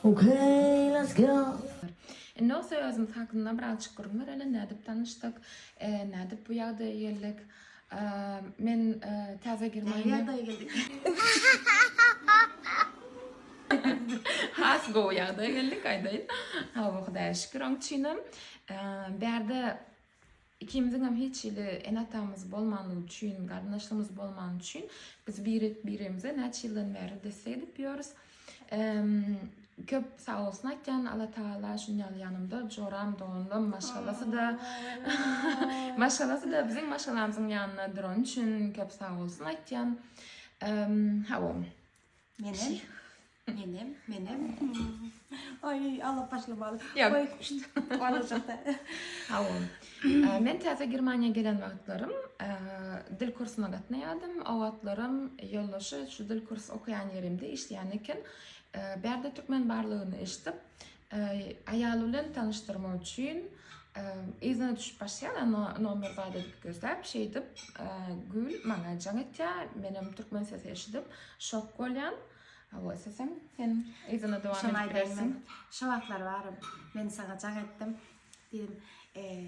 Okay let's go. Indi o sözümiz hakynda birazjyk gürrüň bereli, nädip tanyşdyk, nädip bu ýagdaýa geldik. Men täze girmäge. Näme ýagdaýa geldik? Has gowy ýagdaýa geldik aýdaýyn. Hawa Hudaýa şükür oň üçinem. Bärde Ikimiziňem hiç hili ene-atamyz bolmanlygy üçin, garyndaşlygymyz bolmany üçin biz birek-biremize näçe ýyldan bäri desse edip ýörüs. Köp sag bolsun aýtýan, Allatagala şuny ýaly ýanymda joram, doganlam, maşgalasy-da, maşgalasy-da biziň maşgalamyzyň ýanynda durany üçin köp sag bolsun aýtýan. Hawa. Menem Menem menem Aý aglap başlamaly. Men täze Germaniýa gelen wagtlarym dil kursuna gatnaýardym. O wagtlaram ýoldaşy şu dil kurs okaýan ýerimde işleýän eken. Bärde türkmen barlygyny eşidip aýaly bilen tanyşdyrmak üçin yzyna düşüp başlaýar anna nomer bardy diýip gözläp şeýdip Gül maňa jaň etýär. Menem türkmen sesi eşidip şok bolýan. Hawa isleseň sen yzyna dowam edip bilersiň. Şo wagtlar barym. Men saňa jaň etdim. Diýdim,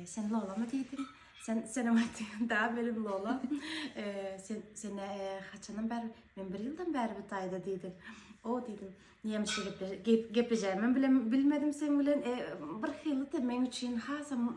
sen lolamy diýdim. Sen senem aýtdyň, da benim lola. sen sen haçandan bäri? Men bir ýyldan bäri bu taýda diýdim. O diýdim, nämişe gep geplejeýimi bilmedim sen bilen. E, bir hyly da men üçin hasam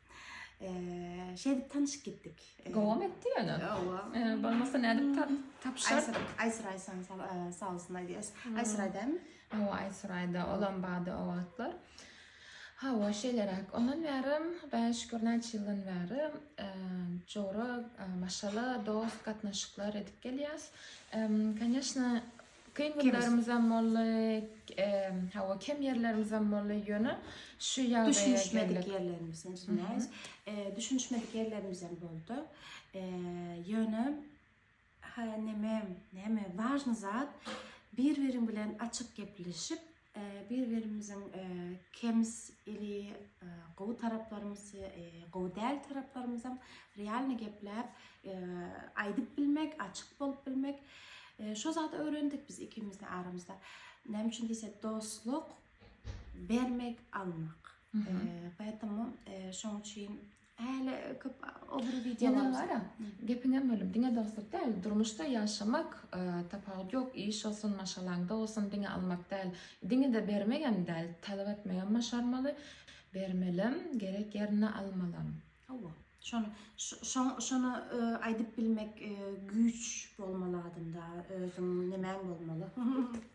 Eee, şeýdip tanyşyp gitdik. Eee, Gowam etdi ýöne. Owa. Eee, Bolmasa nädip ta- tapyşar? Aýsyr, Aýsyr Aýsan sal- eee, sag olsun aýdýas. Hmm. Aýsyr aýdamy? Owa, Aýsuraýda olam bady o wagtlar. Hawa, şeýleräk. Ondan bäri, Hudaýa şükür, näçe ýyldan bäri eee, jora, eee, maşgala, dost gatnaşyklar edip gelýäs. Emm, Конечно, Kyn günlerimizem boldy, hawa kem ýerlerimizem boldy, ýöne şu ýagdaýa geldik. Düşünişmedik ýerlerimiz, näis, düşünişmedik ýerlerimizem boldy. Ýöne ha neme, neme, wažny zat, bir-biriň bilen açyk gepleşip, Bir-birimiziň kems ili gowy taraplarymyz we gowy däl taraplarymyzam realny gepläp aýdyp bilmek, açyk bolup bilmek. Şo zady öwrendik biz ikimiz-de aramyzda. Näme üçin diýsek, dostluk bermek, almak. Poetemu şoň üçin Häli köp ogry wideo Ýene gara, gepiňem bölüm. Diňe dostluk däl, durmuşda ýaşamak, tapawut ýok, iş bolsun, maşgalaňda bolsun, diňe almak däl, diňe-de bermegem däl, talap etmegem başarmaly, bermelem, gerek ýerinde almalam. Hawa, şony, şoň, şony aýdyp bilmek güýç bolmaly adamda, özüň nemäň bolmaly.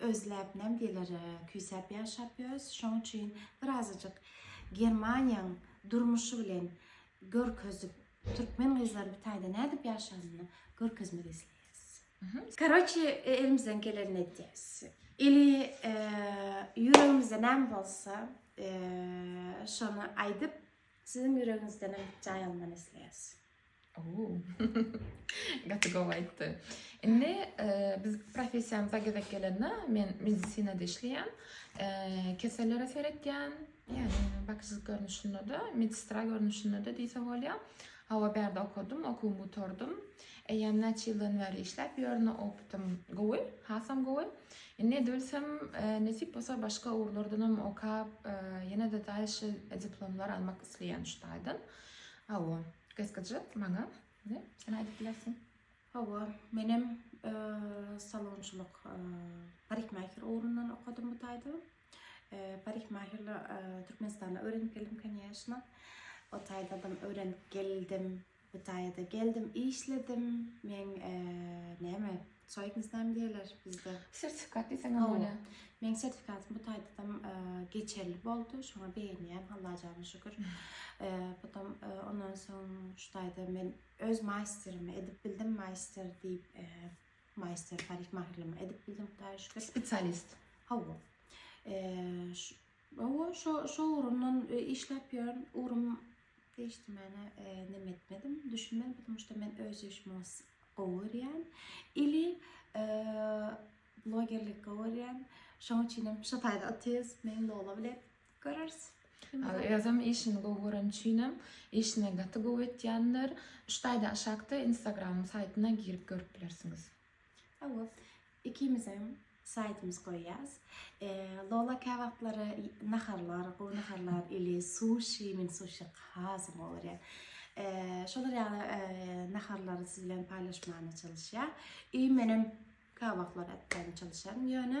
Özläp näme diýler, küýsäp ýaşap ýörüs. Şoň üçin bir azajyk Germaniýaň durmuşy bilen görkezip, türkmen gyzlaryň bir taýda nädip ýaşanyny görkezmek isleýäs. Karoçi, elimizden gelenini edýäs. Ili ýüregimizde näme bolsa, şony aýdyp, siziň ýüregiňizdenem jaý almany isleýäs. Gaty gowy aýtdy. Indi e, biz professiýamyza gezek gelende men medisinada işleýän, e, kesellere seretýän, ýagny bakyjylyk görnüşinde-de, medsestra görnüşinde-de diýse bolýar. Hawa, bärde okadym, okuwymy gutardym. Eýýäm näçe ýyldan bäri işläp ýörün, opytym gowy, hasam gowy. Indi edebilsem, e, nesip bolsa başga ugurlardan hem okap, e, ýene-de daýşy diplomlar almak isleýän şu taýdan. Hawa, gyzgyja maňa ne? Sen aýdyp bilersiň. Hawa, menem salonçylyk parikmaher ugrundan okadym bu taýda. Parikmaherle Türkmenistana öwrenip geldim kanýeşna. O taýdadam öwrenip geldim. Bu taýda geldim, işledim. Men näme? Soýup näme diýerler bizde? Sertifikat diýseň hem bolýar. Meniň sertifikatym bu taýdan geçerli boldy. Şoňa begenýän Alla jana şükür. Potom ondan soň şu taýda men öz maýsterimi edip bildim, maýster diýip, maýster parikmahirlimi edip bildim Hudaýa şükür. Spesialist. Hawa. Owo şo şo ugrundan işläp ýören ugrym degişdi mana neme etmedim düşünmedim ptomu şda men öz işimi os gowy görýän ili blogerlik gowy görýän şoň üçinem şo taýda otyrys men lola bile göreris özem işini gowy gören üçinem işine gaty gowy etýändir şu taýda aşakda instagramym saýtyna girip görüp bilersiňiz. Hawa, ikimizem saýtymyz goýýas. Lola käwagtlary naharlar, gowy naharlar ili suşi, men suşi has gowy görýän. Şolar ýaly naharlary siz bilen paýlaşmaga çalyşýar. Menem käwagtlar atýan çalyşýan ýöne.